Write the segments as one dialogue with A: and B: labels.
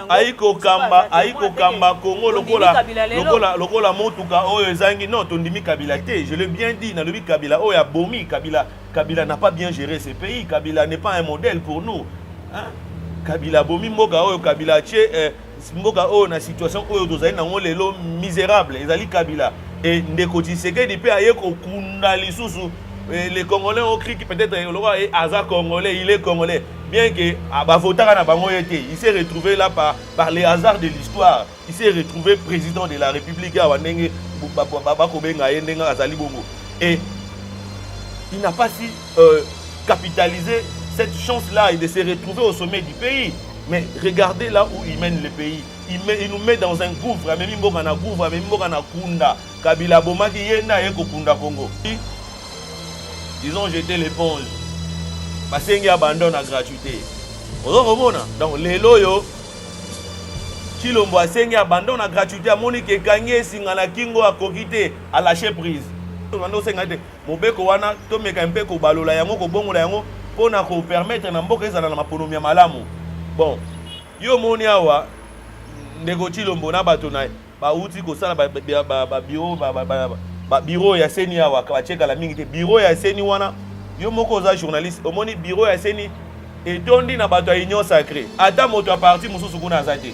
A: ayi kokamba ayi kokamba kongo lokola lokola lokola motuka oyo ezangi non tondimi kabila te je l'ai bien dit nalobi kabila oyo abomi kabila kabila n'a pas bien géré ce pays kabila n'est pas un modèle pour nous hein? kabila abomi mboka oyo kabila atie eh, mboka oyo na situation oyo tozali nango lelo misérable ezali kabila e ndeko tshisekedi mpe aye kokunda lisusu eh, le congolais okriki peut-être eh, lokola eh, aza congolais il est congolais bien que ah, bavotaka na bango ye te il s'est retrouvé là par, par les hasards de l'histoire il s'est retrouvé président de la république awa ndenge bakobenga ye ndenge azali bongo et il n'a pas si euh, capitalisé cette chance là et de se retrouver au sommet du pays mais regardez là où il mène le pays il, met, il nous met dans un gouffre amemi mboka na gouffre amemi mboka na kunda Kabila abomaki ye nde aye kokunda Congo. Ils ont jete l'eponge. Basengi abandon na gratuite. Ozo komona? Donc lelo oyo Chilombo asengi abandon na gratuite amoni ke kangi esinga na kingo akoki te a lâcher prise. Tokando senga te mobeko wana tomeka mpe kobalola yango kobongola yango mpo na ko permettre na mboka ezala na maponomi ya malamu. Bon, yo omoni awa ndeko Chilombo na bato na ye bawuti kosala babiro babiro ya seni awa batie kala mingi te biro ya seni wana yo moko oza journaliste omoni biro ya seni etondi na bato ya union sacré ata moto ya parti mosusu kuna aza te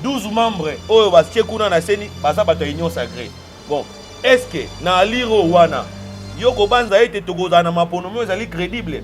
A: 12 membre oyo batie kuna na seni baza bato ya union sacré bon estce na aliro wana yo kobanza ete tokozala na maponomi oyo ezali crédible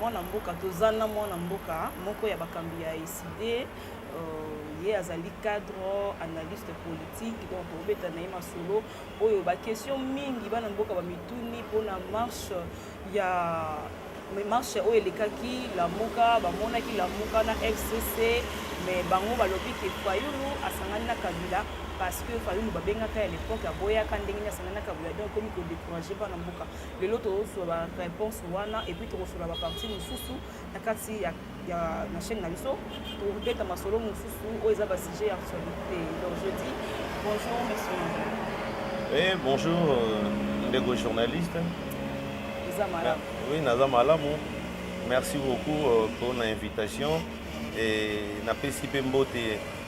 B: Mwana mboka toza na mwana mboka moko ya bakambi ya eside euh, ye azali cadre analyste politique donc tokobeta na ye masolo oyo bakestion mingi bana mboka bamituni mpona marche ya mais marche oyo elekaki lamuka bamonaki lamuka na fcc mais bango balobi ke fayulu asangani na kabila parce que fayulu babengaka ya lepoke aboyaka ndenge nini asangani na kabila donc ekomi kodécourage bana mboka lelo tozwa ba réponse wana epuis tokosolola ba parti mosusu na kati ya, ya na chaîne na biso tokobeta masolo mosusu oyo eza ba sujet ya actualité donc je dis bonjour monsieur eh,
A: bonjour euh, ndeko journaliste eza malamu oui naza malamu merci beaucoup euh, mpona invitation e napesi mpe mbote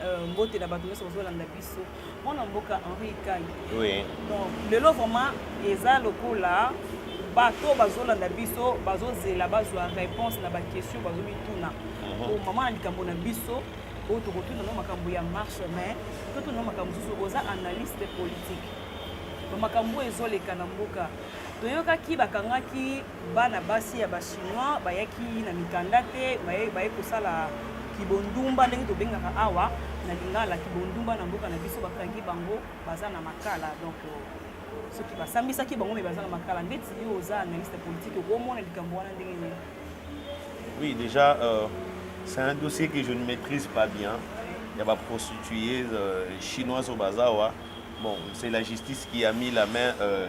B: Euh, mbote na bato nyonso bazolanda biso mwana mboka henri ikai donc
A: lelo
B: vraiment eza lokola bato bazolanda biso bazozela bazwa réponse na baquestion bazomituna mhm. po mama na likambo na biso oyo tokotuna no makambo ya marche mais totuna no makambo mosusu oza analyste politique bamakambo oyo ezoleka na mboka toyokaki bakangaki Bana basi ya ba chinois bayaki na mikanda te, baye baye kosala kibondumba ndenge tobengaka awa na lingala kibondumba na mboka na biso bakangi bango baza na makala donc soki basambisaki bango me baza na makala ndeti yo oza analyste politique okomona likambo wana ndenge nini oui
A: déjà euh, c'est un dossier que je ne maîtrise pas bien il y a ba prostituées euh, chinoises au bazawa bon c'est la justice qui a mis la main euh,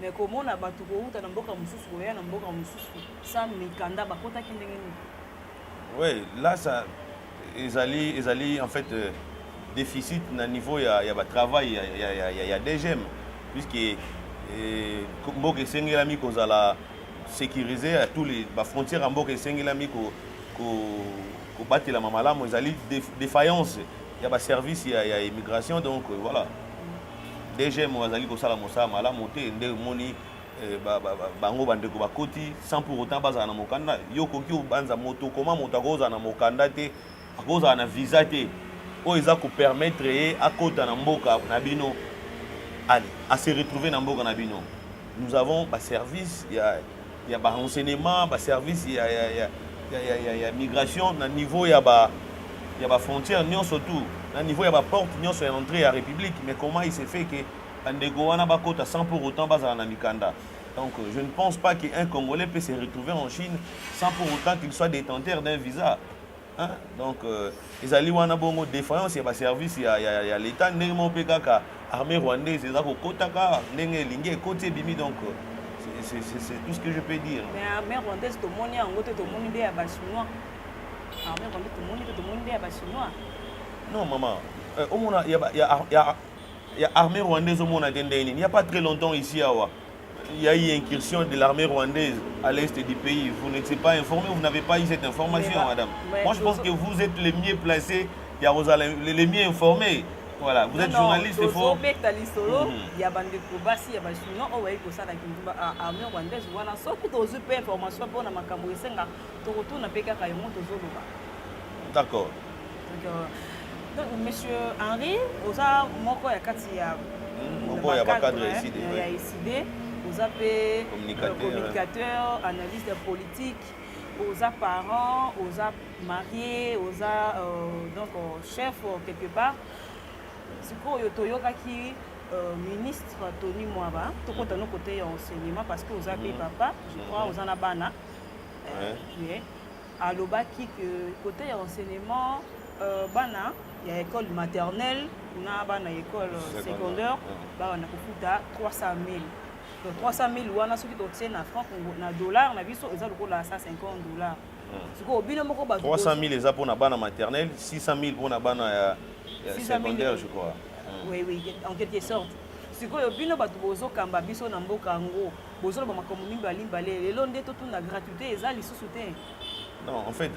A: Mais komona bato
B: kowuta na mboka mosusu koya na mboka mosusu sans mikanda bakotaki ndenge nini? Oui,
A: là ça ezali ezali en fait euh, déficit na niveau ya ya ba travail ya ya ya, ya, ya DGM puisque eh, mboka esengelami kozala sécurisé à tous les ba frontières ya mboka esengelami ko ko kobatelama malamu ezali défaillance ya ba service ya ya immigration donc euh, voilà dgm oyo azali kosala mosala malamu te nde omoni eh, bango bandeko bakoti sans pour autant bazala na mokanda yo okoki obanza moto okoma moto akozala na mokanda te akozala na visa te oyo eza kopermettre ye akota na mboka na bino ale ase retrouve na mboka na bino Nous avons ba service ya ya ba renseignements, ba service ya ya ya ya, ya, ya, ya migration na niveau ya ba ya ba frontières nyonso tout na niveau ya ba porte nyonso ya entrée ya république mais comment il se fait que bandeko wana bakota sans pour autant bazala na mikanda donc euh, je ne pense pas qu'un congolais peut se retrouver en chine sans pour autant qu'il soit détenteur d'un visa Hein? Donc, euh, ezali wana bongo défaillance ya baservice ya, ya, ya l'état ndenge moko mpe kaka armée rwandaise eza kokotaka ndenge elingi ekoti ebimi donc euh, c'est tout ce que je peux dire mais armée rwandaise
B: tomoni yango te tomoni nde ya bachinois armée rwandaise tomoni te tomoni nde ya bachinois non maman
A: euh, omona ya, ya, ya, ya armée rwandaise omona te ndenge nini ya pas très longtemps ici awa il y a eu incursion de l'armée rwandaise à l'est du pays. Vous n'étiez pas informé, vous n'avez pas eu cette information, mais, madame. Mais, Moi, je pense que vous êtes les mieux placés, les, les mieux informés. Voilà, vous non, êtes journaliste, il faut... tozobeta lisolo mhm. ya
B: bandeko basi ya bachinois oyo bayi kosala kindumba armée rwandaise wana soki tozwi mpe information mpo na makambo esenga tokotuna mpe kaka yango tozoloba d'accord donc,
A: euh,
B: donc monsieur henri oza moko ya kati ya hmm, moko ya bacadre
A: ya iside ya iside
B: oza mpe communicateur euh, analyste politique oza parent oza marie oza euh, donc euh, chef euh, quelque part sikoyo toyokaki Euh, ministre tony mwaba tokota no kote ya enseignement parce que oza mpe mhm. papa je crois mhm. oza na bana hein? mais alobaki que côté ya enseignement euh, bana ya école maternelle na bana ya école secondaire babanda kofuta 300 000 donc 300 000 wana soki totie na franc na dollar na biso eza lokola 150 dollar sikoyo bino moko ba 300 000 eza mpo na bana
A: maternelle 600 000 mpo na bana ya, ya secondaire je crois oui oui en
B: quelque sorte sikoyo bino bato bozokamba biso na mboka yango bozoloba makambo mingi balimbale lelo nde totuna gratuité eza lisusu te non en fait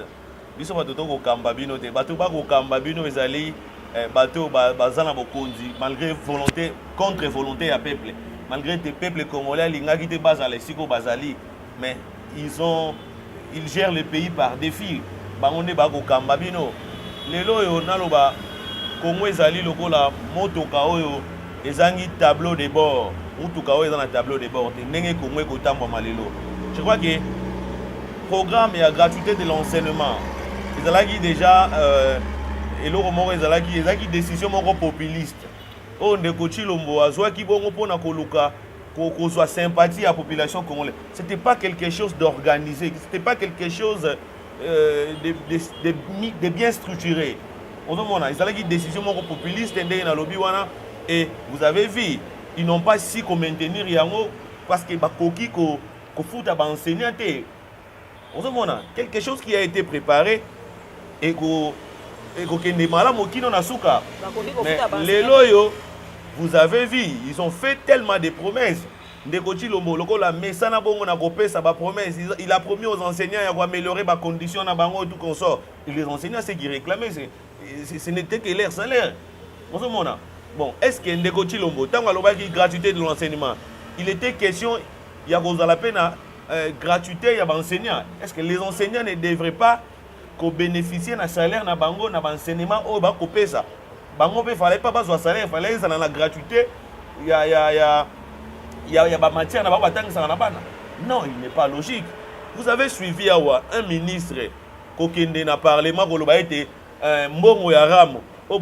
A: biso bato tokokamba bino te bato bakokamba bino ezali eh, bato baza na bokonzi malgré volonté contre volonté ya peuple malgré te peuple congolais alingaki te bazala esika oyo bazali mais ils ont il gère le pays par defi bango nde ba kokamba bino lelo oyo naloba congo ezali lokola motoka oyo ezangi tableau de bord motuka oyo eza na tableau de bord te ndenge congo ekotambwama lelo je crois que programme ya gratuité de l'enseignement ezalaki déjà euh, eloko moko ezalaki ezalaki décision moko populiste oyo ndeko chilombo azwaki bongo mpo na koluka kozwa sympathie ya population congolaise c'était pas quelque chose d'organisé c'était pas quelque chose euh, de, de, de, de bien structuré ozomona ezalaki décision moko populiste ndenge nalobi wana et vous avez vu ils n'ont pas si komaintenir yango parce que bakoki kofuta ko baenseignant te ozomona quelque chose qui a été préparé eko ekokende malamu kino na suka mais lelo oyo vous avez vu ils ont fait tellement de promesses ndeko chilombo lokola mesana bongo na kopesa bapromesse il a promis aux enseignants ya koaméliorer bacondition na bango tout consort les enseignants ce qui réclamaient ce n'était que leur salaire ozomona bon est ce que ndeko chilombo ntango alobaki gratuité de l'enseignement il était question ya kozala mpe na euh, gratuité ya baenseignant est ce que les enseignants ne devraient pas kobénéficie na salaire na bango na baenseignement oyo bakopesa bango mpe fallait pas bazwa salaire fallait ezala na gratuité ya, ya, ya, ya, ya bamatière na bango batangisaka na bana non il n'est pas logique vous avez suivi awa un ministre kokende na parlement koloba ete euh, mbongo ya ramo oyo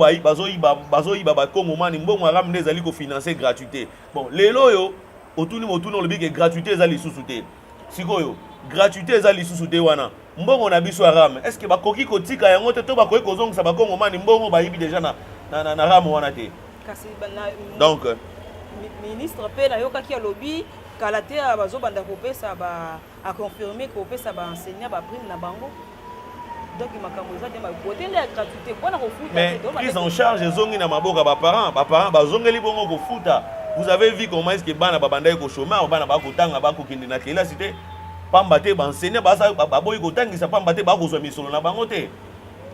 A: bazoyiba bakongomani mbongo ya ramo nde ezali kofinanse gratuité bon lelo oyo otuni motuna olobi ke gratuité eza lisusu te sikoyo gratuité eza lisusu te wana mbongo na biso ya rame est ce que bakoki kotika yango te to bakoki kozongisa bakongomani mbongo bayibi deja na, na, na, na rame wana te kasi na, donc
B: ministre mpe nayokaki alobi kala te bazobanda kopesa ba A confirmer ko pesa ba enseignants ba prime na bango. Donc makambo eza te ma bote nde ya gratuité mpo na kofuta. Mais prise en charge
A: ezongi na maboka ba parents, ba parents bazongeli bongo kofuta. Vous avez vu comment est-ce que bana babandaki ko chômage, bana bakotanga bakokende na kelasi te. Pamba te ba enseignants baza baboyi kotangisa pamba te bakozwa misolo na bango te.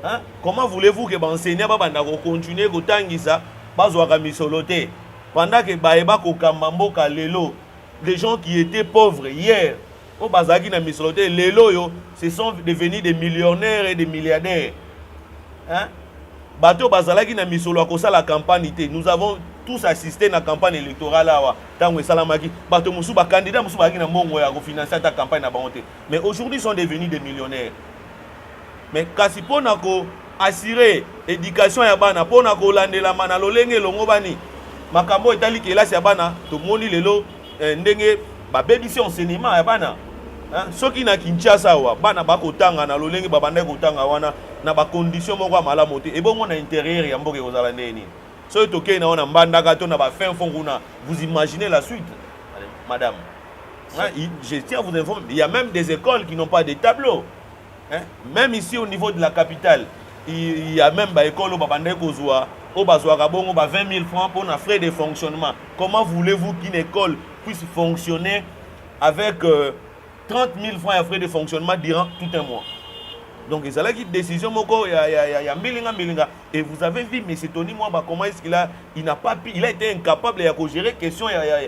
A: Hein? Comment voulez-vous que ba enseignants babanda ko continuer kotangisa bazwaka misolo te? Pendant que baye bakokamba mboka lelo des gens qui étaient pauvres hier oyo bazalaki na misolo te lelo oyo ce sont devenus des millionnaires et des milliardaires hein? bato oyo bazalaki na misolo ya kosala campagne te nous avons tous assisté na campagne électorale awa ntango esalamaki bato mosusu bacandidat mosusu bazalaki na mbongo ya kofinanse ata campagne na bango te mais aujourd'hui sont devenus des millionnaires Mais kasi mpo na ko assurer education ya bana mpo na kolandelama na lolenge elongobani makambo oyo etali kelasi ya bana tomoni lelo eh, ndenge babebisi enseignement ya bana eh, soki na kinshasa awa bana bakotanga na lolenge babandaki kotanga wana na bacondition moko ya malamu te ebongo na interieur ya mboka ekozala ndenge nini soki tokei na wana mbandaka to na bafin fond kuna vous imaginez la suite madame hein, je tiens à vous informer il y a même des écoles qui n'ont pas de tableau Hein? Même ici au niveau de la capitale, il y a même ba écoles ba bandai kozwa au bazwa kabongo ba 20 000 francs pour na frais de fonctionnement. Comment voulez-vous qu'une école puisse fonctionner avec euh, 30 000 francs ya frais de fonctionnement durant tout un mois? Donc ils allaient une décision moko ya ya ya, ya mbilinga mbilinga et vous avez vu monsieur Tony Mwamba comment est-ce qu'il a il n'a pas pu, il a été incapable ya ko gérer question ya ya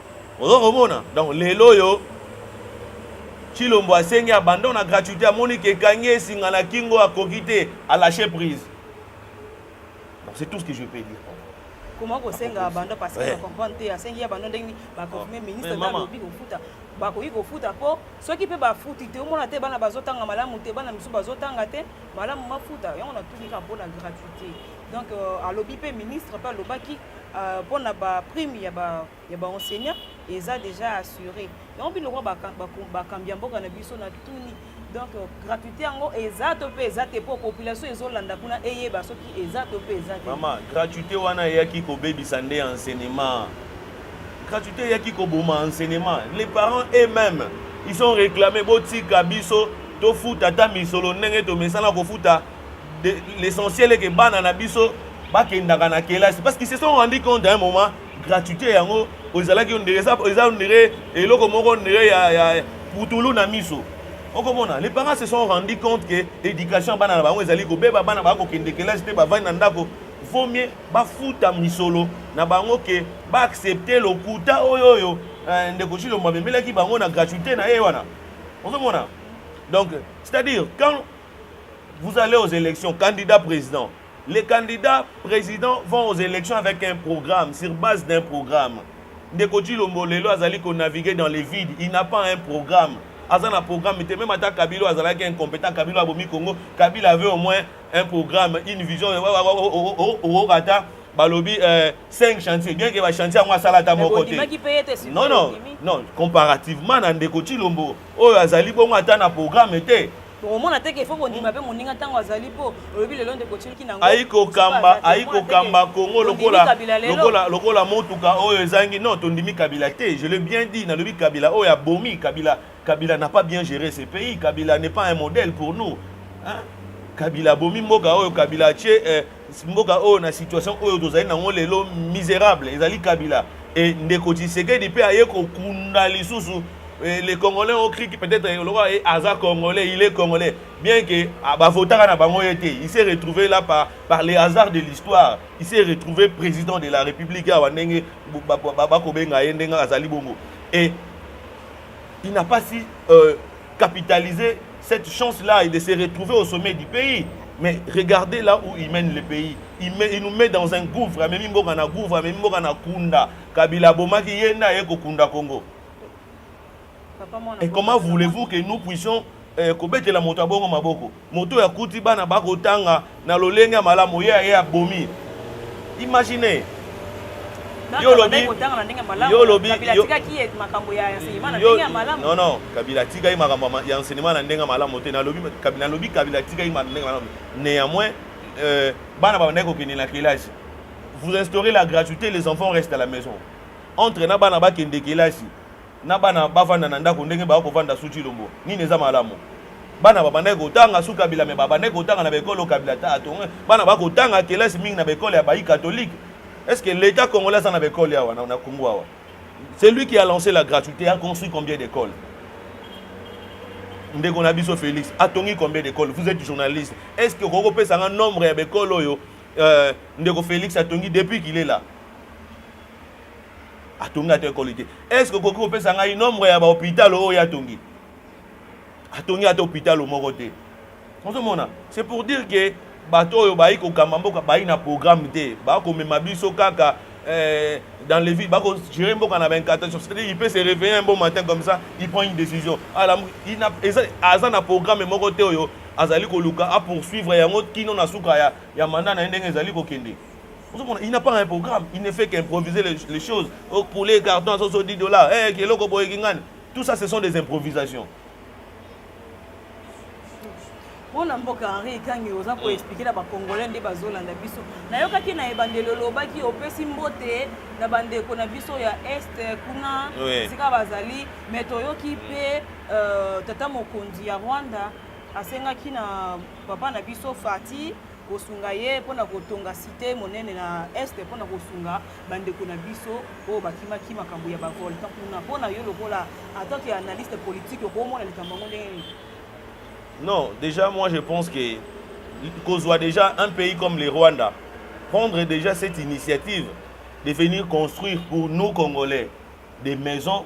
A: Ozo komona donc lelo oyo Chilombo asengi abandon na gratuité amoni ke kangi esinga na kingo akoki te a lâcher prise. Donc c'est tout ce que je peux dire. Comment
B: kosenga abandon parce que comprendre te asengi abandon ndenge ba confirmer ah. ministre na lobi kofuta bakoki kofuta mpo soki mpe bafuti te omona te bana bazotanga malamu te bana misusu bazotanga te malamu mafuta yango natuni kaka mpo na gratuité donc euh, alobi mpe ministre mpe alobaki euh, mpo na ba prime ya ba ya ba enseignant eza déjà assuré yango bino lokola bakambi ya mboka na biso na tuni donc euh, gratuité yango eza to mpe eza te mpo population ezolanda kuna eyeba soki eza to mpe eza te mama gratuité wana eyaki
A: kobebisa nde enseignement gratuité eyaki koboma enseignement les parents eux-mêmes ils ont réclamé botika biso tofuta ata misolo ndenge tomesana kofuta l'essentiel est que bana na biso bakendaka na kelasi parce qu'ils se sont rendu compte à un moment gratuité yango ozalaki ondire eza ondire eloko moko ondire ya, ya putulu na miso okomona les parents se sont rendu compte que éducation ya bana na bango ezali kobeba bana baa kokende kelasi te bavandi na ndako vaut mieux bafuta misolo na bango ke baaccepte lokuta oyo oyo eh, ndeko cilombo amemelaki bango na gratuité na ye wana ozomona donc c'est à dire quand Vous allez aux élections, candidat président. Les candidats présidents vont aux élections avec un programme, sur base d'un programme. Ndeko Chilombo lelo azali ko naviguer dans les vides, il n'a pas un programme. Aza na programme te, même ata Kabila azalaki incompétent, Kabila abomi Congo, Kabila avait au moins un programme, une vision. Oh, oh, oh, oh, ata balobi euh, 5 chantiers, bien que ba chantiers yango asala ata moko te. Non non, non, comparativement na Ndeko Chilombo oyo azali bongo ata na programme te. bokomona te ke fo
B: bondima mpe moninga ntango azali mpo olobi lelo nde kotiliki nango aikokamba
A: aikokamba kongo lokola, lokola, lokola motuka oyo ezangi non tondimi kabila te je le bien dit nalobi kabila oyo abomi kabila kabila n'a pas bien géré ce pays kabila n'est pas un modèle pour nous hein? kabila abomi mboka oyo kabila atie eh, mboka oyo na situation oyo tozali nango lelo miserable ezali kabila e ndeko tshisekedi mpe aye kokunda lisusu e, les congolais ont cru peut-être e, lokola aza congolais il est congolais bien que ah, bavotaka na bango ye te il s'est retrouvé là par, par les hasards de l'histoire il s'est retrouvé président de la république awa ndenge bakobenga ye ndenge azali bongo et il n'a pas si euh, capitaliser cette chance là et de se retrouver au sommet du pays mais regardez là où il mène le pays il, met, il nous met dans un gouffre amemi mboka na gouffre amemi mboka na kunda kabila abomaki ye nde aye kokunda congo et comment voulez-vous que nous puissions eh, kobetela moto ya bongo maboko Moto oyo akuti bana bakotanga na lolenge ya malamu, ye aye abomi. Imagine yo olobi yo olobi non non kabila atikaki makambo ya enseignement na ndenge ya malamu te nalobi kabila nalobi kabila atikaki ndenge ya malamu néanmoins euh, bana babandaki kokende na kelasi vous instaurez la gratuité les enfants restent à la maison entre na bana bakende kelasi na bana bavanda na ndako ndenge baya kovanda su Tshilombo nini eza malamu bana babandaki kotanga su Kabila me babandaki kotanga na baekolo Kabila ta atonga bana bakotanga kelasi mingi na baekole ya bayi katolike est ce que l'etat congolais aza na baekole awa na Congo awa c'est lui qui a lancé la gratuité a construit combien d'écoles ndeko na biso Félix atongi combien d'écoles vous êtes journaliste est ce que okoki kopesa nga nombre ya baekole oyo euh, ndeko Félix atongi depuis qu'il est là atongi ata ekoli te est ce que okoki kopesa ngai nombre ya bahopital oyo atongi atongi ata hopital moko te ozomona c'est pour dire que bato oyo bayi kokamba mboka bayi na programme te bakomema biso kaka eh, dans les villes bakogere mboka na baincantation c'est-à-dire il peut se réveiller un bon matin comme ça il prend une décision aza na programme moko te oyo azali koluka apoursuivre yango kino na suka ya, ya manda na ye ndenge ezali kokende ozomona il n'a pas un programme il ne fait qu'improviser les, les choses okule carton azozo 10 dollars hey, eh, eloko boye kingani tout ça ce sont des improvisations
B: mpona mboka henri ekangi oza koexplike na bacongolais nde bazolanda biso nayokaki na ebandeli olobaki opesi mbote na bandeko na biso ya est kuna esika bazali me toyoki mpe euh, tata mokonzi ya rwanda asengaki na papa na biso fati kosunga ye mpo na kotonga site monene na este mpo na kosunga bandeko na biso oyo bakimaki makambo ya bavolcan kuna mpo na yo lokola atant que analyste politique okomona likambo yango ndenge nini non
A: déjà moi je pense que kozwa déjà un pays comme le rwanda prendre déjà cette initiative de venir construire pour nous congolais des maisons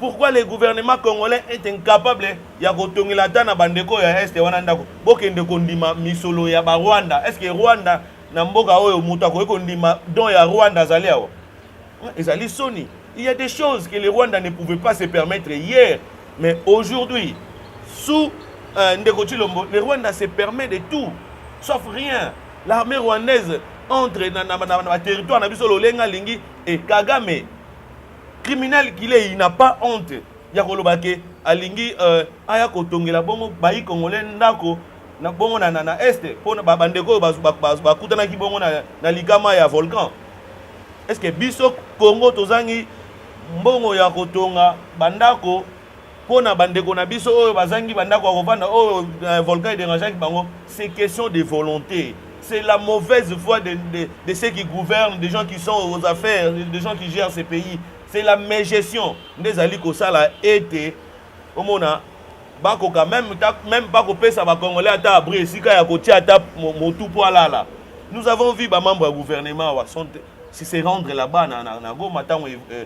A: Pourquoi le gouvernement congolais est incapable ya kotongela ata na bandeko ya este wana ndako? Bokende kondima misolo ya ba Rwanda. Est-ce que Rwanda na mboka oyo moto akoki kondima don ya Rwanda azali awa? Ezali soni. Il y a des choses que le Rwanda ne pouvait pas se permettre hier, mais aujourd'hui, sous euh, Ndeko Chilombo, le Rwanda se permet de tout, sauf rien. L'armée rwandaise entre na, na, na, na, na territoire na biso lolenga lingi et Kagame Criminel Guillet, il n'a pas honte ya koloba ke alingi euh, aya kotongela bongo bayi congolais ndako na bongo na, na, na este mpo na bandeko oyo bakutanaki bongo na, na likama ya volcan eske biso congo tozangi mbongo ya kotonga bandako mpo na bandeko na biso oyo bazangi bandako ya kovanda oyo euh, volcan ederangeaki bango c'est question de volonté c'est la mauvaise foi de, de, de ceux qui gouvernent des gens qui sont aux affaires des gens qui gèrent ce pays c'est la mégestion nde ezali kosala ete omona bakoka même, même bakopesa bacongolais ata abri esika ya kotia ata motu mpo alala nous avons vu bamembre ya gouvernement awa se rendre là-bas na, na, na goma ntango euh,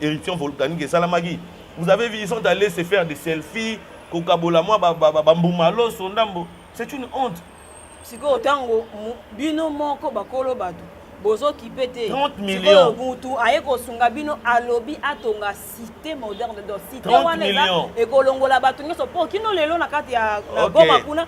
A: Éruption volcanique esalamaki. Vous avez vu, ils sont allés se faire des selfies, kokabola mwa bambuma loso ndambo. C'est une honte. sikoyo ntango
B: bino moko bakolo bato bozokipe te sikoyo
A: mutu aye kosunga
B: bino alobi atonga cité moderne do cité wana eza
A: ekolongola bato nyonso
B: mpo kino lelo na kati ya goma kuna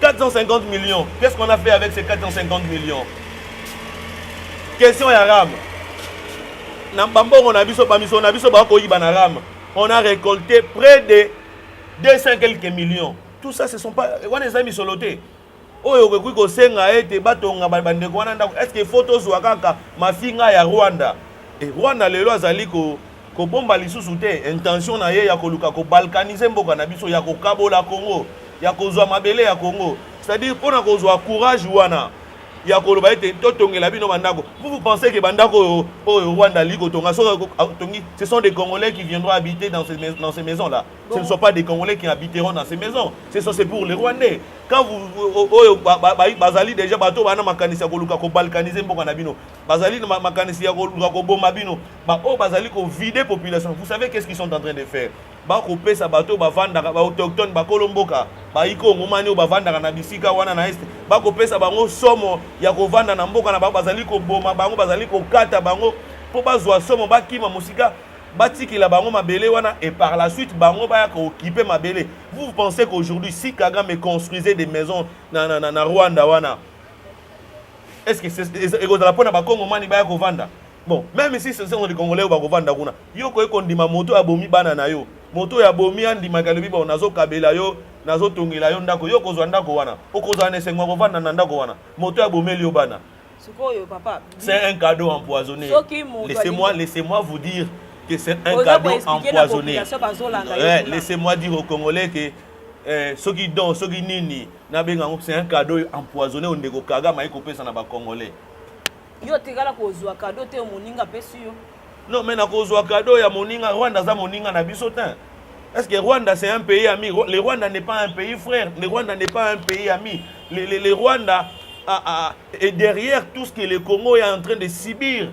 A: 450 millions. Qu'est-ce qu'on a fait avec ces 450 millions Question ya RAM. Na bambongo na biso, bamiso na biso, bakoyiba na RAM. On a récolté près de 200 quelques millions. Tout ça, ce sont pas... Wana eza misolo te. oyo okoki kosenga ete batonga bandeko wana ndako est ce que faut tozwa kaka mafinga ya rwanda e rwanda lelo azali ko Kobomba lisusu te intention na ye ya koluka ko balkaniser mboka na biso, ya kokabola Congo, ya kozwa mabele ya Congo. C'est-à-dire mpo na kozwa courage wana ya koloba ete totongela bino bandako. Vous vous pensez que bandako oyo oyo Rwanda alingi kotonga soki atongi, ce sont des Congolais qui viendront habiter dans ces dans ces maisons là. Bon. Ce ne sont pas des Congolais qui habiteront dans ces maisons. Ce sont c'est pour les Rwandais. Quand vous oyo bazali déjà bato bana makanisi ya koluka ko balkaniser mboka na bino. bazali na makanisi ya koluka koboma bino baoyo bazali kovide population vous savez qu'est ce qu'ils sont en train de faire bakopesa bato oyo bavandaka baautochtone bakolo mboka baikongomani oyo bavandaka na bisika wana na este bakopesa bango somo ya kovanda na mboka na bango bazali koboma bango bazali kokata bango mpo bazwa somo bakima mosika batikela bango mabele wana et par la suite bango baya kookipe mabele vous pensez qu'aujourd'hui si kagame construisait des maisons na, na, na, na rwanda wana est ce que ekozala mpo na bakongomani baya kovanda bon meme si ce sont les congolais oyo bakovanda kuna yo koki kondima moto oyo abomi bana na yo moto oyo abomi andimaka alobi bon nazokabela yo nazotongela yo ndako yo okozwa ndako wana okozala na esengo ya kovanda na ndako wana moto oyo abomeli yo bana sikoyo papa
B: c'est un cadeau
A: empoisonné laissez-moi laissez-moi vous dire que c'est un cadeau empoisonné eh, laissez-moi dire aux congolais que eh, soki don soki nini Na benga ngo c'est un cadeau empoisonné au ndeko Kagame ayi kopesa na ba congolais. Yo
B: tikala kozwa cadeau te moninga pesi yo. Non mais na kozwa
A: cadeau ya moninga Rwanda aza moninga na biso te. Est-ce que Rwanda c'est un pays ami Le Rwanda n'est pas un pays frère. Le Rwanda n'est pas un pays ami. Le, le, le Rwanda a, a, est derrière tout ce que le Congo est en train de subir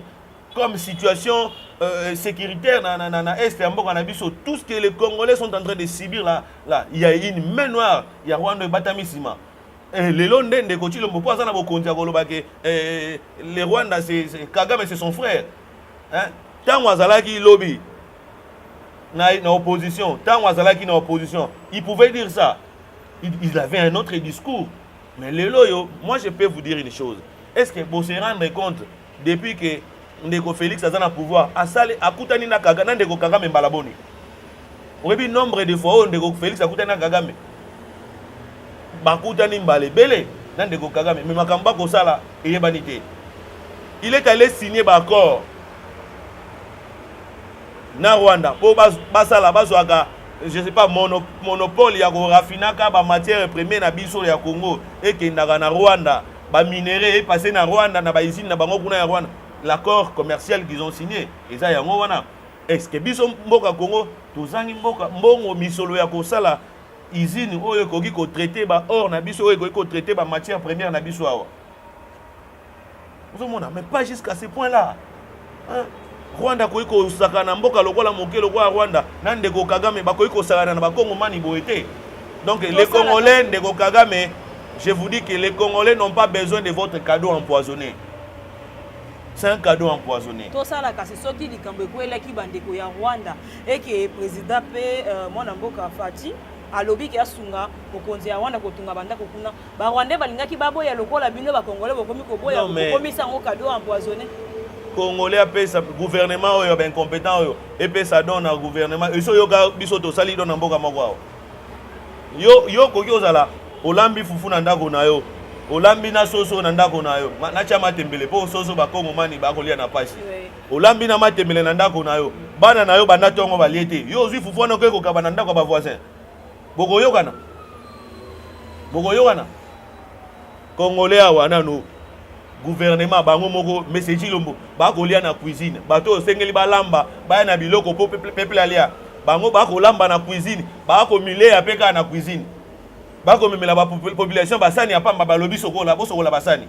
A: comme situation euh, sécuritaire na, na, na, na est ya mboka na biso tout ce que les congolais sont en train de subir là, là il y a une main noire ya rwanda ebatami nsima eh, lelo nde ndeko chilombo mpo aza na bokonzi ya koloba ke eh, le rwanda kagame c'est son frère ntango hein? azalaki lobi na, na opposition ntango azalaki na opposition il pouvait dire ça il, il avait un autre discours mais lelo oyo moi je peux vous dire une chose est ce que bose rendre compte Depuis que ndeko Felix aza na pouvoir asali akutani na Kagame na ndeko Kagame mbala boni? Oyebi nombre de fois oyo ndeko Felix akutani na Kagame? Bakutani mbala ebele na ndeko Kagame, mais makambo bakosala eyebani te. Il est allé signer ba accord na Rwanda mpo basala bazwaka je sais pas mono, monopole ya korafinaka ba matière première na biso ya Congo ekendaka na Rwanda ba minerais e passer na Rwanda na ba usine na bango kuna ya Rwanda l'accord commercial qu'ils ont signé eza yango wana est-ce que biso mboka Congo tozangi mboka mbongo misolo ya kosala usine oyo ekoki ko traiter ba or na biso oyo ekoki ko traiter ba matières premières na biso awa ozomona mais pas jusqu'à ce point là Ah, Rwanda akoki kosaka na mboka lokola moke lokola Rwanda na ndeko Kagame bakoki kosalana na bakongo mani boye te donc les congolais ndeko Kagame je vous dis que les congolais n'ont pas besoin de votre cadeau empoisonné c'est un cadeau empoisonné tosala kasi soki
B: likambo ekwelaki bandeko ya Rwanda et que président pe euh, mwana mboka Fatih alobi ke asunga mokonzi ya Rwanda kotunga bandako kuna Ba Rwandais balingaki baboya lokola bino ba Congolais bokomi koboya bokomisa yango cadeau empoisonné. Congolais
A: apesa gouvernement oyo ba incompetent oyo epesa don na gouvernement eso yoka biso tosali don na mboka moko awa. Yo yo okoki ozala olambi fufu na ndako na yo olambi na soso na ndako na yo natya matembele mpo soso bakongomani bakolia na pasi olambi na matembele na ndako na yo bana na yo banda ntongo balie te yo ozwi fufu wana okoki kokaba na ndako ya bavoisin bokoyokana bokoyokana congolais awa nanu gouvernement bango moko mese cilombo bakolia na cuisine bato oyo osengeli balamba baya na biloko mpo peple alia bango bakolamba na cuisine bakomileya mpe kaka na cuisine bakomemela bapopulation basani ya pamba balobi sokola bosokola basani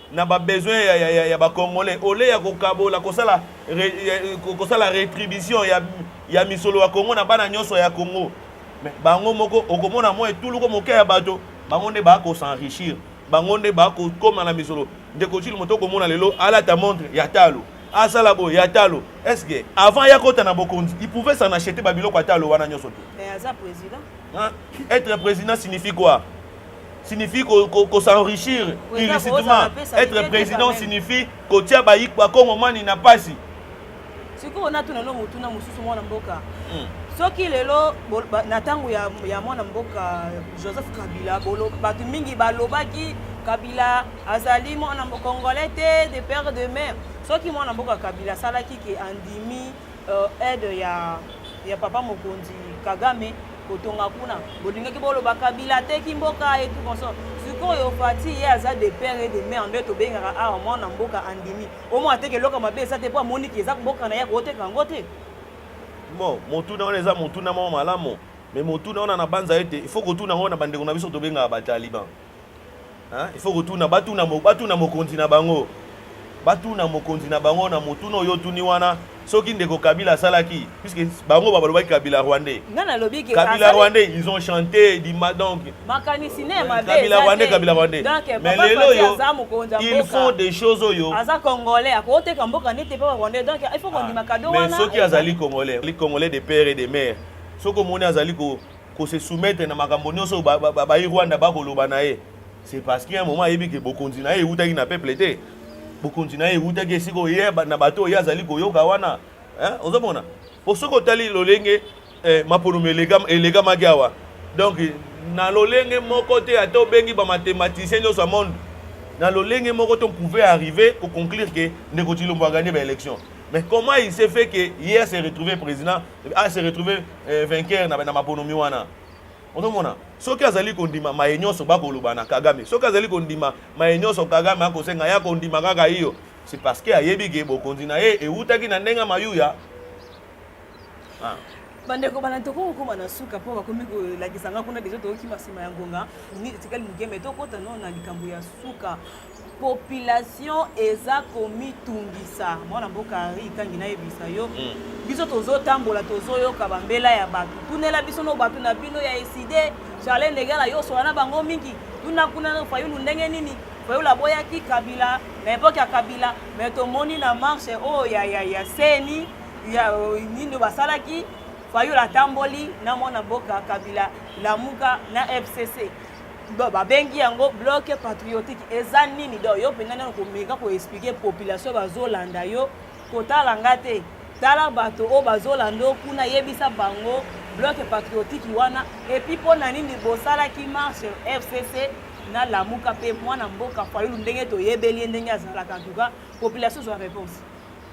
A: na ba besoin ya, ya, ya, ya ba congolais ole ya kokabola kosala re, ya, kosala retribution ya, ya misolo ya Congo na bana nyonso ya Congo mais bango moko okomona mwa etuluko moke ya bato bango nde bako s'enrichir bango nde bako koma na misolo ndeko chili moto okomona lelo alata montre ya talo asala boye ya talo est-ce que avant ya kota na bokonzi il pouvait s'en acheter ba biloko ya talo wana nyonso te mais aza président
B: hein?
A: être président signifie quoi signifie ko s'enrichir illicitement être président signifie kotia bakongomani na
B: pasi sikoyo
A: natuna no
B: motuna mosusu
A: mwana
B: mboka hmm. soki lelo na ntango ya, ya mwana mboka joseph kabila bato mingi balobaki kabila azali mwana congolais te de père de mère soki mwana mboka kabila asalaki ke andimi euh, aide ya ya papa mokonzi kagame kotonga kuna bolingaki boloba kabila ateki mboka et tout consort sikoyo fati ye aza de père et de mère nde tobengaka awa ah, mwana mboka andimi omo ateke eloko mabe eza te mpo amoniki eza mboka na ye akoteka yango te bon
A: motuna wana eza motuna moko malamu mais motuna wana na banza ete il faut kotuna yango na bandeko na biso tobengaka bataliban il faut kotuna batuna batuna mokonzi na bango batuna mokonzi na bango na motuna oyo otuni wana soki ndeko kabila asalaki puisque bango balobaki kabila rwandais kabila
B: rwandais ils ont
A: chanté dima donc kabila
B: rwandais kabila rwandais
A: mais lelo oyo ils font des choses oyo aza congolais
B: akoteka mboka nete pe rwandais donc il faut kondima ah, kado wana mais soki azali congolais
A: congolais de père et de mère soki omoni azali ko ko se soumettre na makambo nyonso bayi Rwanda bakoloba na ye c'est parce qu'il y a un moment ayebi ke bokonzi na ye ewutaki na peuple te bokonzi na ye ewutaki esika oye na bato oyo ye azali koyoka wana ozomona po soki otali lolenge eh, maponomi elekamaki awa donc na lolenge moko te ata obengi bamathematicien nyonso ya monde na lolenge moko te on pouvait arriver koconclure ke ndeko tshilombo aganye baélection mais comment il s'est fait ke ye se retrouve président a se retrouver eh, vainqueur na, na maponomi wana ozomona soki azali kondima maye nyonso bakoloba na kagame soki azali kondima maye nyonso kagame akosenga ya kondima kaka iyo c'est parce que ayebi ke bokonzi na ye ewutaki na ndenge mayuya ah. bandeko
B: bana tokoki kokoma na suka mpo bakomi kolakisa nga kuna deja tokokima nsima ya ngonga tikali mokeme tokota no na likambo ya suka population eza komitungisa mwana mboka henri ikangi nayebisa yo mm. biso tozotambola tozoyoka bambela ya bato tunela biso no bato na bino ya eside charle ndegala yo osola na bango mingi tuna kuna fayulu ndenge nini fayulu aboyaki kabila na epoke ya kabila me tomoni na marche oyo ya, ya, ya seni ya nini basalaki fayulu atamboli na mwana mboka kabila lamuka na fcc donc babengi yango bloke patriotique eza nini donc yo mpenza nano komeka koexplike population bazolanda yo kotala nga te tala bato oyo bazolanda yo kuna yebisa bango bloke patriotique wana epuis mpo na nini bosalaki marche fcc na lamuka mpe mwana mboka fayulu ndenge toyebeli ye ndenge azalaka antuka population zwa réponse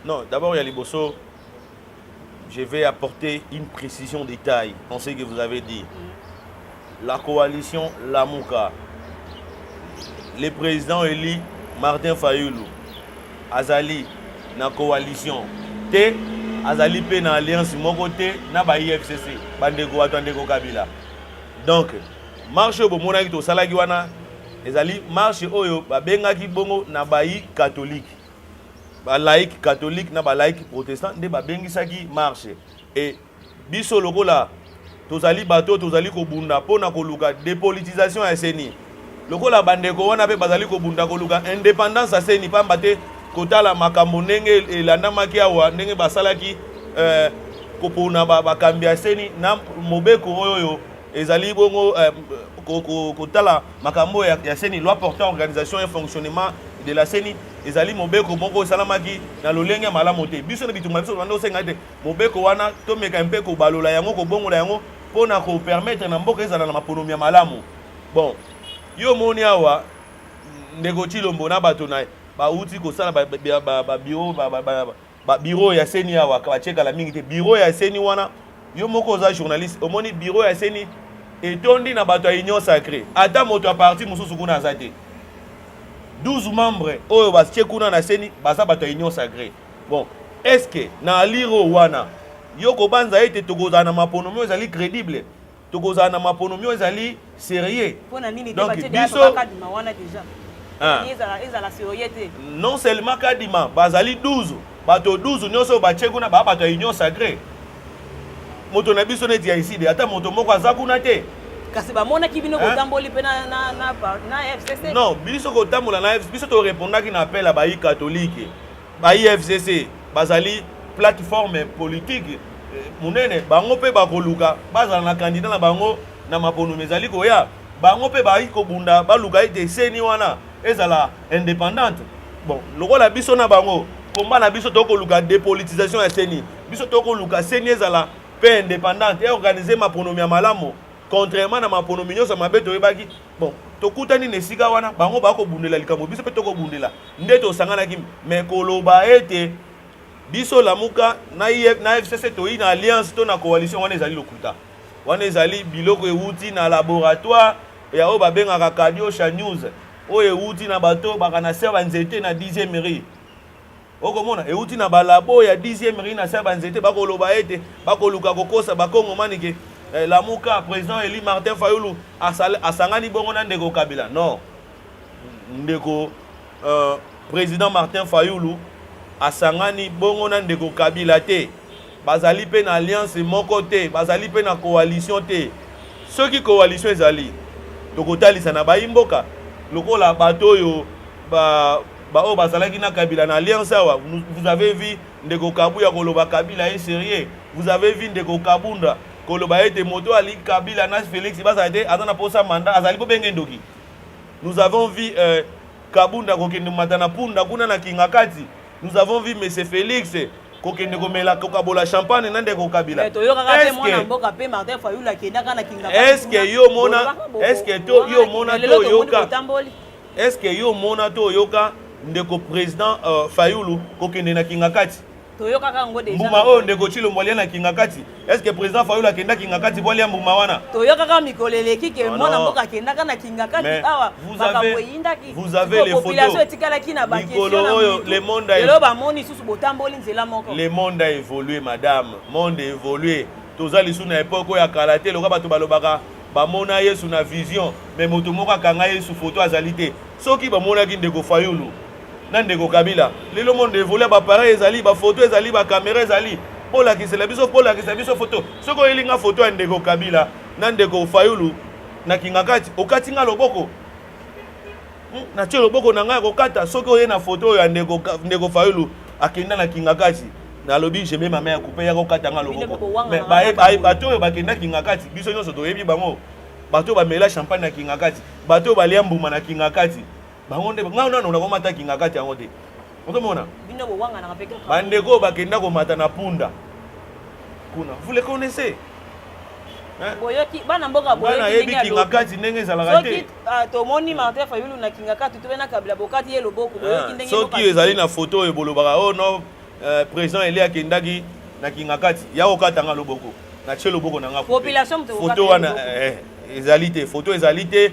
B: non d'abord ya
A: liboso je vais apporter une précision de taille en ce que vous avez dit. La coalition Lamuka, le président élu Martin Fayoulou, Azali, na coalition, T, Azali P na alliance moko T, na ba IFCC, bandeko watu andeko Kabila. Donc, marche oyo bomonaki tosalaki wana ezali marche oyo babengaki bongo na bayi katolike ba laïcs catholiques na ba laïcs protestants nde babengisaki marche et biso lokola tozali bato tozali kobunda mpo na koluka depolitisation ya seni lokola bandeko wana mpe bazali kobunda koluka independance ya seni mpamba te kotala makambo ndenge elandamaki awa ndenge basalaki eh, kopona bakambi ya seni na mobeko oyo ezali bongo eh, kotala makambo ya, ya seni loi portant organisation et fonctionnement de la seni ezali mobeko moko esalamaki na lolenge ya malamu te biso na bitumba biso banda osenga ete mobeko wana tomeka mpe kobalola yango kobongola yango mpo na kopermettre na mboka ezala na maponomi ya malamu bon yo omoni awa ndeko chilombo na bato na ye bauti kosala babiro ba bureau ya seni awa batie kala mingi te bureau ya seni wana yo moko oza journaliste omoni bureau ya seni etondi na bato ya union sacré ata moto ya parti mosusu kuna aza te 12 membre oyo batie kuna na seni baza bato ya union sacré bon est ce que na aliro wana yo kobanza ete tokozala na maponomi oyo ezali crédible tokozala na maponomi oyo ezali serieux donc
B: biso ah. non seulement
A: kadima bazali 12 bato 12 nyonso oyo batye kuna baa bato ya union sacré moto na biso neti ya iside ata moto moko aza kuna te kasi bamonaki
B: bino kotamboli mpe na fcc non biso kotambola
A: na fcc biso torepondaki na appel ya bayi katolike Ba IFCC bazali plateforme politique eh, munene, bango mpe bakoluka bazala na candidat na bango na maponomi ezali koya. Bango mpe bayi kobunda baluka ete seni wana ezala independante. Bon, lokola biso na bango komba na biso tokoluka depolitisation ya seni, biso tokoluka seni ezala mpe independante et organiser maponomi ya malamu contrairement na maponomi nyonso mabe toyebaki Bon, tokutani na esika wana, bango bakobundela likambo, biso mpe tokobundela. Nde tosanganaki me koloba ete biso lamuka na, IF, na FCC toyi na alliance to na coalition, wana ezali lokuta. Wana ezali biloko ewuti na laboratoire ya oyo babengaka Kadiosha News, oyo ewuti na bato bakanasia banzete na 10e rue okomona euti na balabo ya 10e ri na se ya banzete bakoloba ete bakoluka kokosa bakongomani ke eh, lamuka président eli martin fayulu asangani bongo na ndeko kabila non ndeko euh, président martin fayulu asangani bongo na ndeko kabila te Bazali mpe na alliance moko te, bazali mpe na coalition te. Soki coalition ezali, tokotalisa na bayi mboka lokola bato oyo ba baoyo bazalaki na kabila na alliance awa vous avez vu ndeko kabuya koloba kabila ye serieux vous avez vu ndeko kabunda koloba ete moto ali kabila na felix bazala te aza na posa manda azali bobenge ndoki nous avons vu euh, kabunda kokende mata na punda kuna na kingakati nous avons vu monsieur felix kokende komela kokabola champagne na ndeko kabila eh,
B: eske
A: yo omona eske to yo omona to oyoka eske yo omona to oyoka ndeko président euh, fayulu kokende na kingakati mbuma oyo ndeko chilombo alia na kingakati Est-ce que président Fayulu akenda Kingakati pour aller à Mbumawana Toyokaka mikolo
B: eleki ke mwana mboka akendaka na Kingakati awa makambo eyindaki. Vous avez les photos.
A: Population etikalaki na
B: ba questions na oyo le
A: monde a Lelo ba moni susu
B: botamboli nzela moko. Le monde a évolué
A: madame. Monde a évolué. Toza lisu na époque oyo ya kala te lokola bato balobaka bamona Yesu na vision mais moto moko akanga Yesu photo azali te. Soki bamonaki ndeko Fayulu na ndeko kabila lelo monde evolue bapareil ezali bafoto ezali bakamera ezali bolakisela biso bolakisa biso foto soki oyeli nga foto ya ndeko kabila na ndeko fayulu na kingakati okati nga loboko hmm, natie loboko na ngai ya kokata soki oye na foto oyo ya ndeko, ndeko fayulu akenda na kingakati nalobi jeme mama ya kupe ya kokata nga loboko bato oyo bakenda kingakati biso nyonso toyebi bango bato oyo bamela champagne na kingakati bato oyo balia mbuma na kingakati bango nde ngai nano nakomata kingakati yango te ozomona
B: bandeko oyo bakenda komata
A: na punda kuna vous le connaissez
B: boyoki bana mboka boyebi kingakati
A: ndenge ezalaka te ah, tomoni martin
B: fayulu na kingakati tobe na kabila bokati ye loboko boyoki ah, ndenge soki ezali na foto
A: oyo bolobaka o oh no euh, président ele akendaki na kingakati ya kokata nga loboko na tie loboko na nga foto wana eh, eh, ezali te foto ezali te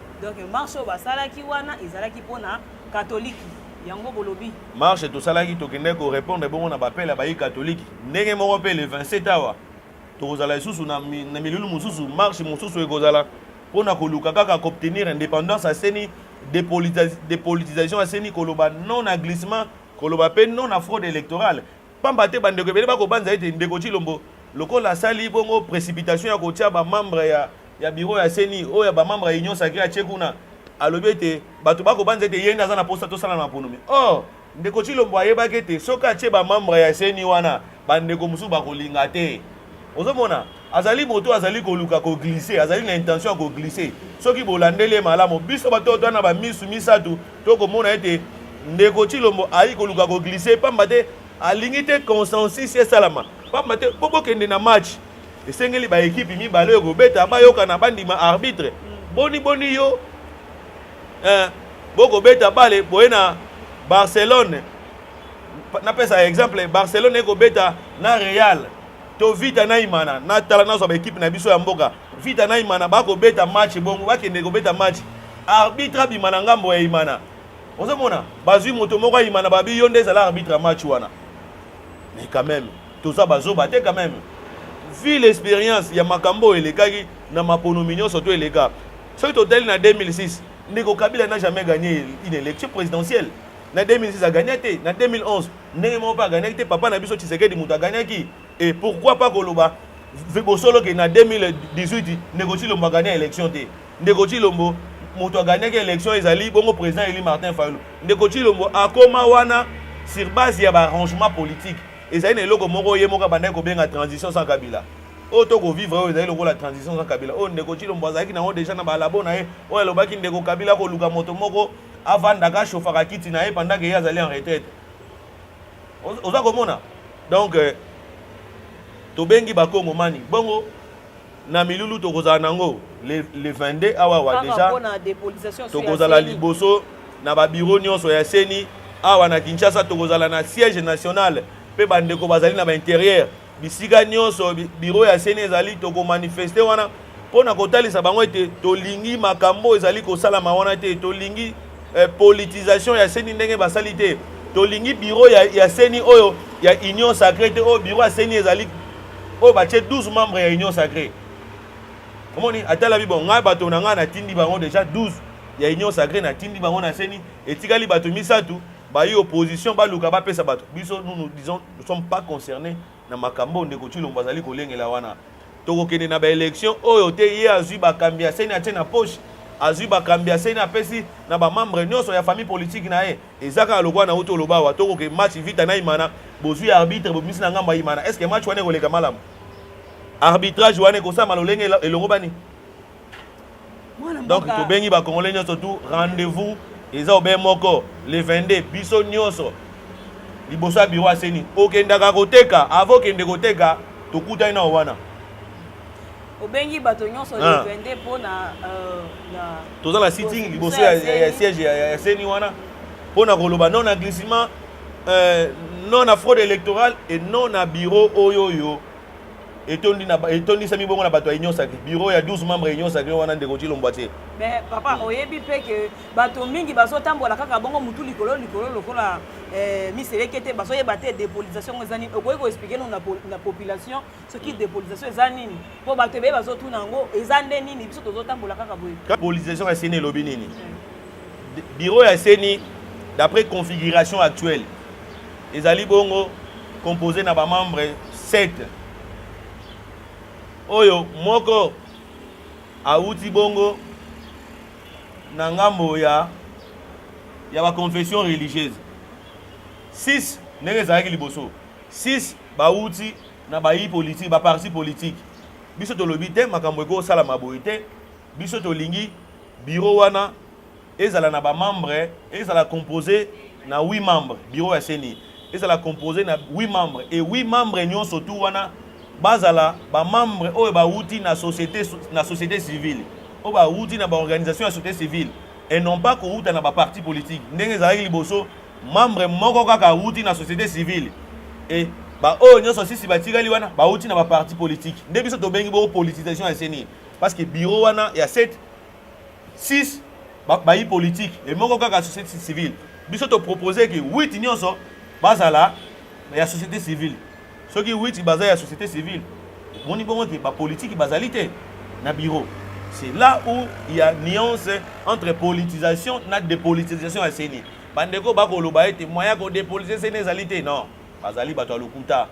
B: donc marche oyo basalaki wana ezalaki mpo na katoliki yango bolobi marche tosalaki
A: tokendaki korépondre bongo na bapele ya bayi katoliki ndenge moko mpe le 27 awa tokozala lisusu na milulu mosusu marche mosusu ekozala mpo na koluka kaka koobtenir indépendance ya seni dépolitisation ya seni koloba non na glissement koloba mpe non na fraude électorale Pamba te bandeko ebele bakobanza ete ndeko Tshilombo lokola asali bongo precipitation ya kotia ba membre ya, ya biro ya CENI oyo ya ba membre ya Union Sacrée atie kuna alobi ete bato bakobanza ete ye nde aza na posa tosala na maponomi or ndeko Tshilombo ayebaki ete soki atie ba membre ya CENI wana bandeko mosusu bakolinga te ozomona azali moto oyo azali koluka koglise azali na intention ya koglise soki bolandeli ye malamu biso bato oyo na bamisu misato tokomona ete ndeko chilombo ayaki koluka koglise mpamba te alingi te consensus esalama mpamba te mpo bokende na match esengeli baekipe mibale oyo kobeta bayokana bandima arbitre boni boni yo eh, bokobeta bale boye na barcelone napesa exemple barcelone ekobeta na real to vita na imana natala nazwa baekipe na biso ya mboka vita na imana bakobeta match bongo bakende kobeta match arbitre abima na ngambo ya imana ozomona bazwi moto moko ayimana babi yo nde ezala arbitre ya match wana mais quand même toza bazoba te quand même ville expérience ya makambo oyo elekaki na maponomi nyonso to eleka soki totali na 2006 ndeko kabila na jamais gagné une élection présidentielle na 2006 agagna te na 2011 ndenge moko mpe aganiaki te papa na biso tshisekedi moto aganiaki e pourquoi pas koloba bosolo ke na 2018 ndeko tshilombo agani ya élection te ndeko tshilombo moto aganiaki élection ezali bongo président eli martin fayulu ndeko tshilombo akoma wana sur base ya baarrangement politique ezali na eloko moko ye moko abandaki kobenga transition sans kabila oyo tokovivre oyo ezali lokola transition sans kabila oyo ndeko tshilombo azalaki nango deja na balabo na ye oyo alobaki ndeko kabila koluka moto moko avandaka ashofaka kiti na ye pendant ke ye azali en retraite oza komona donc euh, tobengi bakongomani bongo na milulu tokozala nango le, le 22 awa wa deja tokozala liboso na babiro nyonso ya seni awa na kinshasa tokozala na siège national mpe bandeko bazali na bainterieur bisika nyonso biro ya seni ezali tokomanifeste wana mpo na kotalisa bango ete tolingi makambo ezali kosalama wana te tolingi eh, politisation ya seni ndenge basali te tolingi biro ya, ya seni oyo ya union sacré te oyo biro ya seni ezali oyo batie 12 membre ya union sacré omoni atalabi bon ngai bato na ngai natindi bango déjà 12 ya union sacré natindi bango na seni etikali bato misato bayi opposition baluka bapesa bato biso nous nous disons nous sommes pas concernés na makambo ndeko Tshilombo azali kolengela wana tokokende na baélection oyo te ye azwi bakambi ya seni atie na poche azwi bakambi ya seni apesi na bamembre nyonso ya famille politike na ye eza kaka lokola na uti oloba awa tokoke match vita na imana bozwi arbitre bobimisi na ngambo ya imana est ce que match wana ekoleka malamu arbitrage wana ekosalama lolenge elongobani donc tobengi bakongole nyonso tu rendez-vous eza obe moko le 22 biso nyonso liboso ya biro aseni okendaka koteka avo okende koteka tokutani nao wana
B: obengi bato nyonso le 22 ah. mpo na euh,
A: toza na sitting liboso ya siège ya seni wana mpo na koloba non na glissement euh, non na fraude électorale et non na biro oyo oyo etondi na etondisami bongo na bato ya union sacré bureau ya 12 membres ya union sacré wana ndeko cilombo atie mais papa oyebi
B: mpe ke bato mingi bazotambola kaka bongo motu likolo likolo lokola eh, miseleke te bazoyeba te dépolisation yango eza nini okoki koexplike no na population soki mm. dépolisation eza nini mpo bato ebeye bazotuna yango eza nde nini biso tozotambola kaka boye dépolisation ya seni elobi
A: nini mm. Bureau ya CENI d'après configuration actuelle ezali bongo composé na ba membres 7 oyo moko awuti bongo na ngambo ya ya ba confession religieuse 6 ndenge ezalaki liboso 6 bawuti na bayi politiki baparti politiki biso tolobi te makambo ekosalama boye te Biso tolingi bureau wana ezala na ba membres, ezala compose na 8 membres, bureau ya CENI ezala compose na 8 membres et 8 membres nyonso tout wana bazala ba membres oyo bawuti na société na société civile, oyo bawuti na ba organisation ya société civile et non pas kowuta na ba parti politique ndenge ezalaki liboso membre moko kaka awuti na société civile et baoyo nyonso sisi batikali wana bawuti na baparti politiki nde biso tobengi bo politisation ya seni Parce que bureau wana ya 7 6 bayi politique et moko kaka société civile biso to proposer que 8 nyonso bazala ya société civile soki 8 baza ya société civile omoni bongo te bapolitiki bazali te na bureau c'est là où il y a nuance entre politisation na dépolitisation ya seni bandeko bakoloba ete moyen ya kodepolitise seni ezali te non bazali bato ya lokuta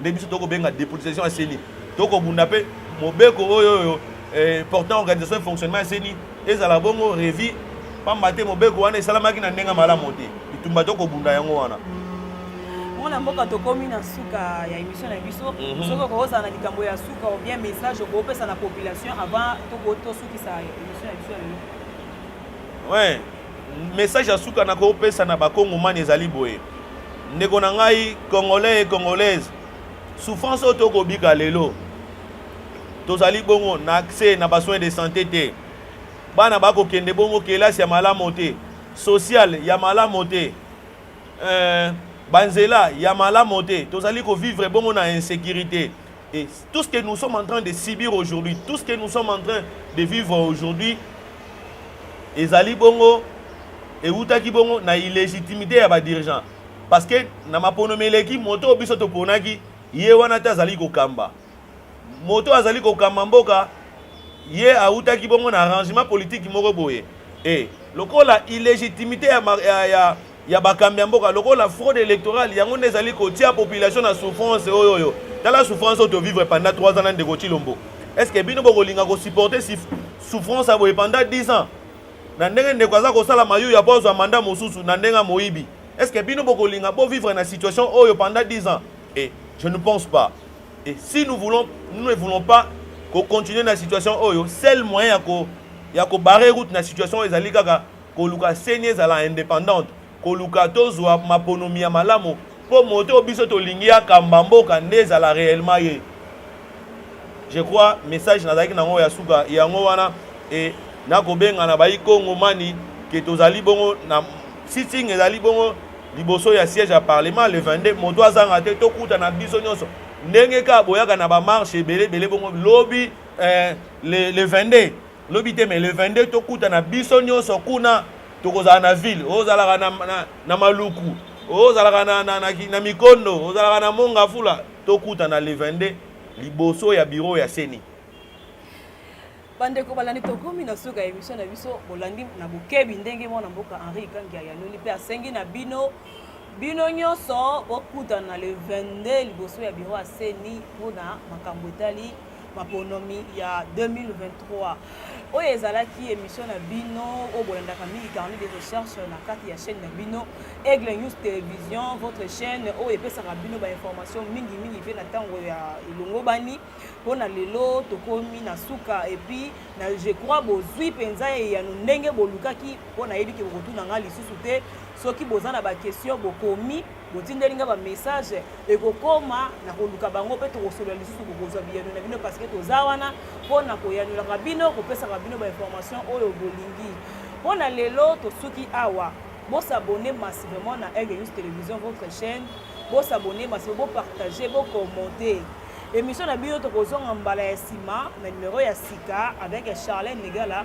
A: nde biso tokobenga depolitisation ya seni tokobunda mpe mobeko oyo oyo eh, portant organisation et fonctionnement ya seni ezala bongo revi pamba te mobeko wana esalamaki na ndenge malamu te bitumba tokobunda yango wana mwana
B: mboka tokomi na suka ya émission na biso mhm. soki okozala na likambo ya suka ou bien message okopesa na population avant tokosukisa émission ya biso ya lelo ouais
A: Message ya suka na kopesa na bakongomani ezali boye, ndeko na ngai congolais et congolaise, souffrance oyo tokobika lelo tozali bongo na accès na basoin de santé te, bana bakokende bongo kelasi ya malamu te, sociale ya malamu te euh, banzela ya malamu te, tozali kovivre bongo na insécurité. Et tout ce que nous sommes en train de subir aujourd'hui, tout ce que nous sommes en train de vivre aujourd'hui, ezali bongo ewutaki bongo na illégitimité ya badirigeant parce que na maponomi eleki moto oyo biso toponaki ye wana te azali kokamba moto oyo azali kokamba mboka ye awutaki bongo na arrangement politique moko boye e lokola illégitimité ya, ya, ya ya bakambi ya mboka lokola fraude electorale yango nde ezali kotia population na souffrance oyo oyo tala souffrance oyo tovivre pendant 3 ans na ndeko chilombo est ce que bino bokolinga kosupporte souffrance ya boye pendant 10 ans na ndenge ndeko aza kosala mayu ya po azwa manda mosusu na ndenge ya moyibi est ce que bino bokolinga bovivre na situation oyo pendant 10 ans et je ne pense pas et si nous voulons nous ne voulons pas kocontinue na situation oyo seul moyen ya ko ya kobare route na situation oyo ezali kaka koluka seni ezala independante koluka tozwa maponomi ya malamu mpo moto oyo biso tolingi akamba mboka nde ezala réellement ye je crois message nazalaki nango ya suka yango wana e nakobengana bayi kongo mani ke tozali bongo na sitting ezali bongo liboso ya siège ya parlement le 22 moto azanga te tokutana biso nyonso ndenge kaka boyaka na bamarshe ebele ebele bongo lobi eh, le, le 22 Lobi te mais le 22 tokutana biso nionso kuna tokozala na ville ozalaka na, na, na maluku ozalaka na, na, na, na mikondo ozalaka na mongafula tokutana le 22 liboso ya bureau ya seni bandeko
B: balandi tokomi na suka ya emission na biso bolandi na bokebi ndenge mwana mboka henri ikangi ayanoli mpe asengi na bino bino nyonso bokutana le 22 liboso ya biro ya seni mpona makambo etali maponomi ya 2023 oyo ezalaki émission na bino oyo bolandaka mingi carnet de recherche na kati ya chaîne na bino aigle news télévision votre chaîne oyo epesaka bino bainformation mingi mingi mpe na ntango ya elongobani mpo na lelo tokomi na suka epuis na je crois bozwi mpenza eyano ndenge bolukaki mpo nayebi ke bokotuna ngai lisusu te soki boza na baquestion bokomi botindeli nga bamessage ekokoma na koluka bango mpe tokosolola lisusu kokozwa biyano na bino parceke toza wana mpo na koyanolaka bino kopesaka bino bainformation oyo bolingi mpo na lelo tosuki awa bosabone massivement na aigle news télévision votre chaîne bosabone massivement bopartage bokommente émission na bino tokozonga mbala ya nsima na numero ya sika avec charlene negala